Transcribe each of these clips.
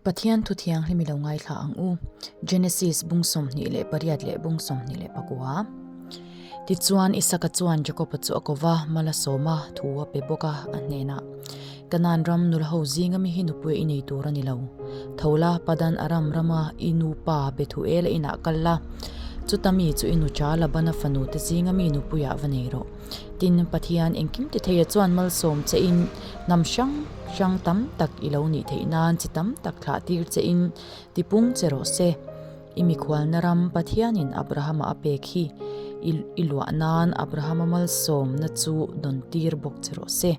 Pathian Thuthianghlim i lo ngaithla ang u, Genesis bung sawmhnih leh pariat leh bung sawmhnih leh pakua. Tichuan Isaka chuan Jakoba chu a ko va, mala sawma thu a pe bawk a, a hnena, Canaan ram nulho zinga mi hi nupui i nei tur a ni lo. Thola, Padan Aram rama i nupa Bethuela inah kal la, chuta mi chu i nucha Labana fanute zinga mi nupui ah va nei rawh. Tin, Pathian engkimti theia chuan malsawm chein hnam hrang hrang tam tak i lo nih theih nan chi tam tak thlah tir chein tipung che rawh se. I mikhualna ram Pathianin Abrahama a pek hi i luah nan Abrahama malsawmna chu dawn tir bawk che rawh se.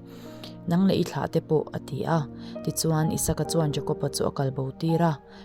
Nang leh i thlah te pawh, a ti a. Tichuan, Isaka chuan Jakopa chu a kalbo tir a,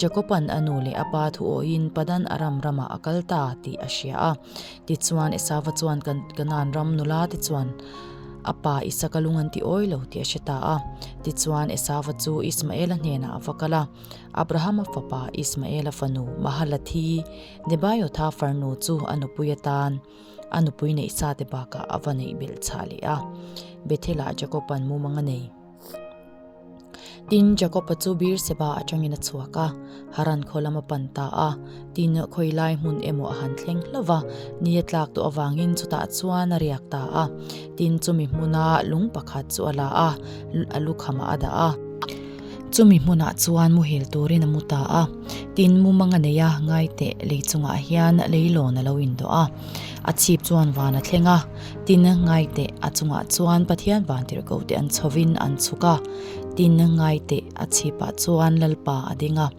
Jakopan a nu leh a pa thu awhin Padan Aram ramah a kal ta tih a hria a. Tichuan Esava chuan Kan Kanaan ram nula te chuan a pa Isaka lung an ti awi lo tih a hre ta a. Tichuan Esava chu Ismaela hnenah a va kal a, Abrahama fapa, Ismaela fanu, Mahalathi, Nebaiothah farnu chu a nupui atan a nupui neih sa te bakah a va neih belh chah leh a. Bethela Jakopan mumang a nei. Tin, Jakopa chu bir seba atangin a chhuak a, Haran khaw lam a pan ta a, tin, khawi lai hmun emaw a han thleng hlauh va, ni a tlak duh avangin chutah chuan a riak ta a, tin, chumi hmuna lung pakhat chu a la a, a lukhamah a dah a. Chumi hmunah chuan mu hil turin a mu ta a, tin, mu manga neia ngaiteh lei chungah hian leilawn a lo indawh a, a chhip chuan van a thleng a. Tin ngaite a chungah chuan Pathian vantirhko te an chhovin an chhuk a, tin ngaite a chhipah chuan Lalpa a ding a,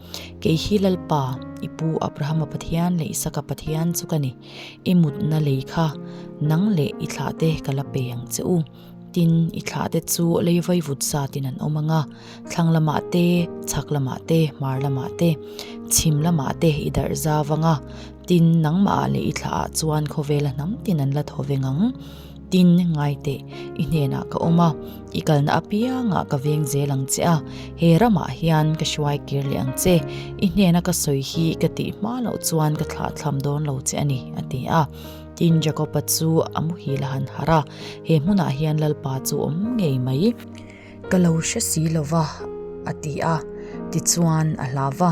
Kei hi Lalpa, i pu Abrahama Pathian leh Isaka Pathian chu ka ni. I mutna lei kha nang leh i thlah te ka la pe ang che u. Tin, i thlah te chu lei vai vut zatin an awm ang a, thlang lamah te, chhak lamah te, hmar lamah te, chhim lamah te i darh zau ang a. Tin, nangmah ah leh i thlah ah chuan khawvel a hnam tin an la thaw veng ang. Tin, ngaite, i hnenah ka awm a, i kalna apiangah ka veng zel ang che a, he ramah hian ka hruai kir leh ang che. I hnena ka sawi hi ka tih hma loh chuan ka thlah thlam dawn lo che a ni, a ti a. Tin, Jakopa chu a muhil a han harh a, he hmunah hian Lalpa chu awm ngei mai. Ka lo hre si lo va, a ti a. Tichuan a hla va,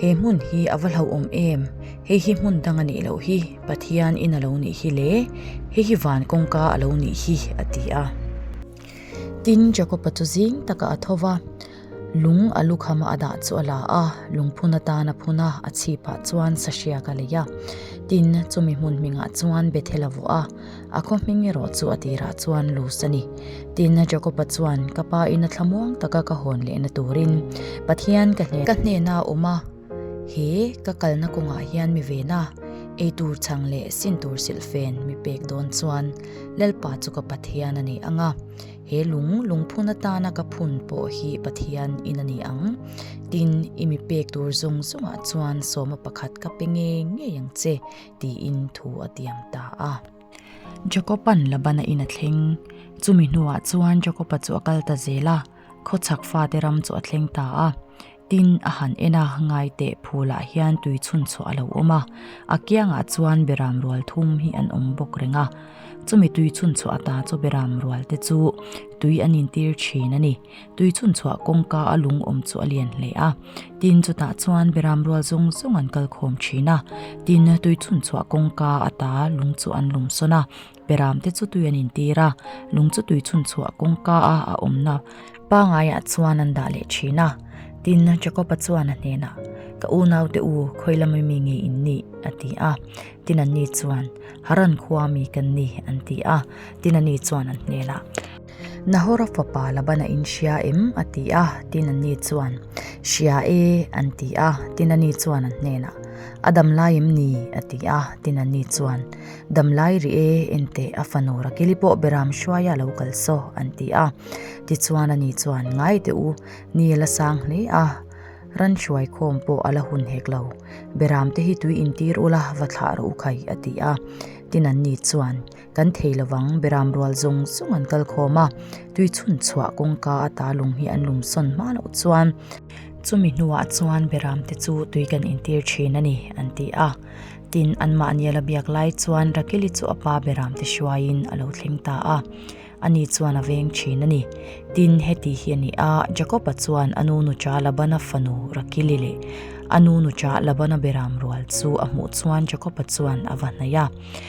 He hmun hi a va hlauhawm em? Hei hi hmun dang a nih loh hi, Pathian in a lo nih hi le, hei hi van kawngka a lo nih hi, a ti a. Tin, Jakopa chu zing taka a thaw va, lung a lukhama a dah chu a la a, lungphun atan a phun a, a chhipah chuan sahriak a lei a. Tin, chumi hmun hmingah chuan Bethel a vuah a. A khawhming erawh chu a tirah chuan lus a ni. Tin, a Jakopa chuan, Ka pa ina thla muang taka ka hawn lehna turin Pathian ka hnena ka hnena a awm a, he ka kalna kawngah hian mi vena ei tur chhang leh sin tur silh fen mi pek dawn chuan Lalpa chu ka Pathian a ni ang a, he lung lungphun atana ka phun pawh hi Pathian in a ni ang. Tin, i mi pek tur zawng zawngah chuan sawma pakhat ka pe ngei ngei ang che. tiin thu a tiam ta a. Jakopan Labana in a thleng, chumi hnuah chuan Jakopa chu a kal ta zel a, khawchhak fate ram chu a thleng ta a, tin a han en a, ngaite phulah hian tui chhun chhuah a lo awm a, a kiangah chuan beram rual thum hi an awm bawk reng a, chumi tui chhun chhuah ta chu beram rualte chu tui an intir thin a ni. Tui chhunchhuah kawngka a lungawm chu a lian hle a. Tin, chutah chuan Biram rual zawng zawng an kal khawm thin a. Tin, tui chhunchhuah kawngka ata lung chu an lum sawn a. Biram te chu tui an intir a. Lung chu tui chhunchhuah kawngka a a awmna pangaiah chuan an dah leh thin a. Tin, Jakopa chuan a hnenah, Ka unaute u, Khawilam ami nge in ni? a ti a. Tin, Anni chuan, Haran khua ami kan ni, an ti a. Tin, ani chuan an hnenah, Nahora fapa Laban a inhria em? a ti a, tin an ni chuan, Hria e, an ti a, tin a ni chuan an hnenah, A dam lai em ni? a ti a, tin an ni chuan, Dam lai ri e, ente a fanu Rakili pawh beram hruaia lo kal saw, an ti a, tichuan a ni chuan, Ngai teh u, ni a la sang hle a, ran hruai khawm pawh a la hun hek lo, beram te hi tui intir ula va thlah rawh u khai, a ti a, tin an ni chuan, kan thei lovang Beram rual zawng zawng an kal khawm a tui chhun chhuah kawngka a ta lung hi an lum sawn hma loh chuan chumi hnuah chuan Beram te chu tui kan in tir thin a ni an ti a tin an mahni ala biak lai chuan Rakel hi chu a pa Beram te hruai in a lo thleng ta a ani chuan a veng thin a ni tin heti hi a ni a Jacob a chuan a nu nucha Laban a fanu Rakel i leh a nu nucha Laban a Beram rual chu a hmuh chuan Jacob a chuan a va hnaih a.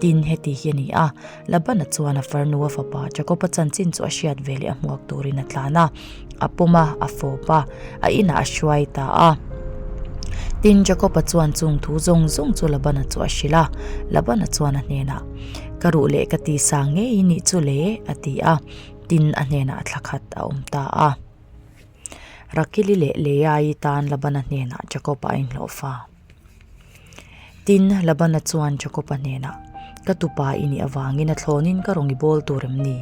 Tin, heti hi a ni a, Labana chuan a far nua fapa Jakoba chanchin chu a hriat ve leh a hmuak turin a tlan a, a pawm a, a fawp a, a inah a hruai ta a. Tin, Jakoba chuan chung thu zawng zawng chu Labana chu a hrilh a. Labana chuan a hnenah, Ka ruh leh ka ti sang ngei i nih chu le, a ti a. Tin, a hnenah a thla khat a awm ta a. Rakili leh Leai-i tan Labana hnenah Jakoba a inhlawhfa. Tin, Labana chuan Jakopa hnêna, Ka tupa i nih avângin a thlâwnin ka rawn i bâwl tûr em ni?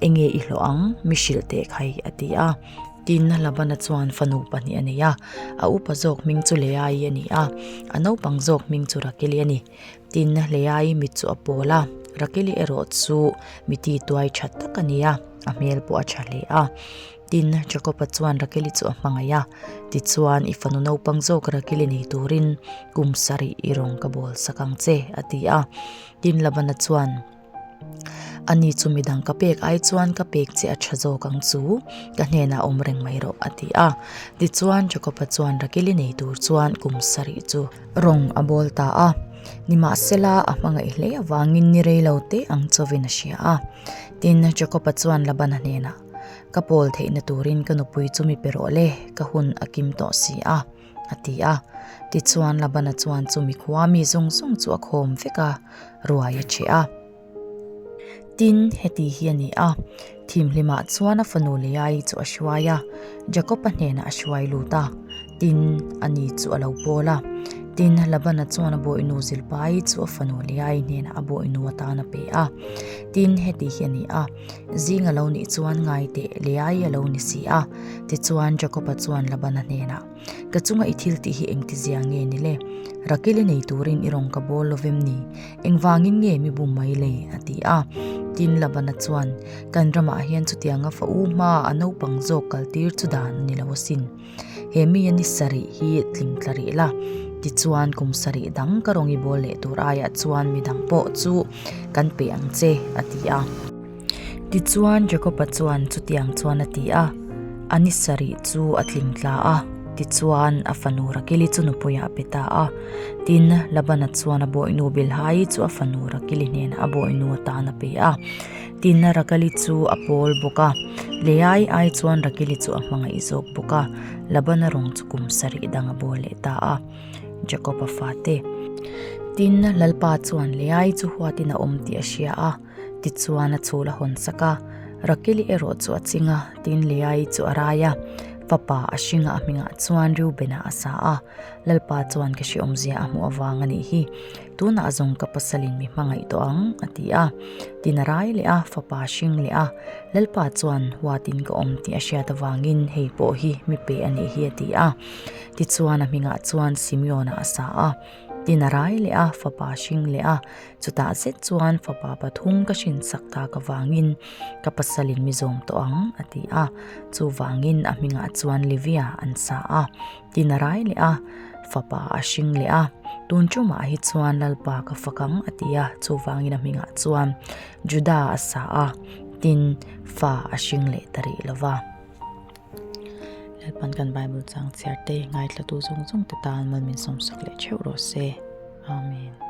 Enge i hlawh ang? Mi hrilh teh khai, a ti a. Tin, Labana chuan fanu pahnih a nei a, a upa zâwk hming chu Leai a ni a, a naupang zâwk hming chu Rakeli a ni. Tin, Leai mit chu a pâwl a, Rakeli erawh chu mi tituai ṭha tak a ni a, a hmêl pawh a ṭha hle a. Tin, Jakopa chuan Rakeli chu a hmangaih a, Tichuan, i fanu naupang zawk Rakeli nei turin kum sarih i rawn ka bawl sak ang che, a ti a. Tin, Labana chuan, Ani chu midang ka pek ai chuan ka pek che a tha zawk ang chu, ka hnenah awm reng mai rawh, a ti a. Tichuan, Jakopa chuan Rakeli nei tur chuan kum sarih chu a rawn a bawl ta a, nimahsela a hmangaih hle avangin ni rei lo te ang chawvin a hria a. Tin, Jakopa chuan Labana hnenah. Ka pawl theihna turin ka nupui chu mi pe rawh le, ka hun a kim tawh si a, a ti a. Tichuan Labana chuan chu mikhua mi zawng zawng chu a khawm vek a, ruai a che a. Tin, heti hi a ni a, thim hlimah chuan a fanu Leai-i chu a hruai a, Jakopa hnenah a hruai lut a, tin, a ni chu a lo pawl a. Tin, Labana chuan a bawihnu Zilpa-i chu a fanu Leai-i hnenah a bawihnu atan a pe a. Tin, heti hi a ni a. Zing a lo nih chuan ngai teh leh ai a lo ni si a. Tichuan Jakopa chuan Labana hnenah, Ka chunga i thil tih hi engtizia nge ni le? Rakeli nei turin i rawn ka bawl lo vem ni? Engvangin nge mi bum mai le? a ti a. Tin, Labana chuan, Kan ramah hian chutianga fa u hmaa a naupang zawk kaltir chu dan a ni lo asin. He mia ni sarih hi tling tla rih la, tichuan kum sarih dang ka rawng i bawl leh tur aiah chuan midang pawh chu kan pe ang che, a ti a. Tichuan Jacob-a chuan chutiang chuan a ti a, a ni sarih chu a tling tla a, tichuan a fanu Rakili chu nupuiah pe ta a. Tin, Laban-a chuan a bawihnu Bilha-i chu a fanu Rakili hnenah a bawihnu atan a pe a. Tina Rakali chu a pawl bawk a, Leai ai chuan Rakili chu a hmangaih zawk bawk a, Labana rawng chu kum sarih dang a bawl leh ta a, Jakoba fate. Tina lalpa chuan Leai chu huatin a awm tih a hria a, tichuan a chhul a hawn sak a, Rakili erawh chu a ching a, tin Leai chu a rai a, fapa a hringa a hmingah chuan Reubena a sa a, lalpa chuan ka hriawmzia a hmuh avang a nih hi. Tunah zawng ka pasalin mi hmangaih tawh ang, a ti a. Tin a rai leh a, fapa a hring leh a. Lalpa chuan huatin ka awm tih a hriat avangin hei pawh hi mi pe a nih hi a ti a. Tichuan a hmingah chuan Simeona a sa a. Tin a rai leh a, fapa a hring leh a. Chutah zet chuan fapa pathum ka hrinsak tak avangin ka pasalin mi zawm tawh ang, a ti a. Chuvangin a hmingah chuan Livia an sa a. Tin a rai leh a, fapa a hring leh a, tun chu mah hi chuan lalpa ka fak ang a ti a, chuvangin a hmingah chuan Juda a sa a, tin fa a hring leh ta rih lo va. Lalpan kan Bible changchhiar te, ngaihtlatu zawng zawng te tan mal min sawm sak leh theuh rawh se. Amen.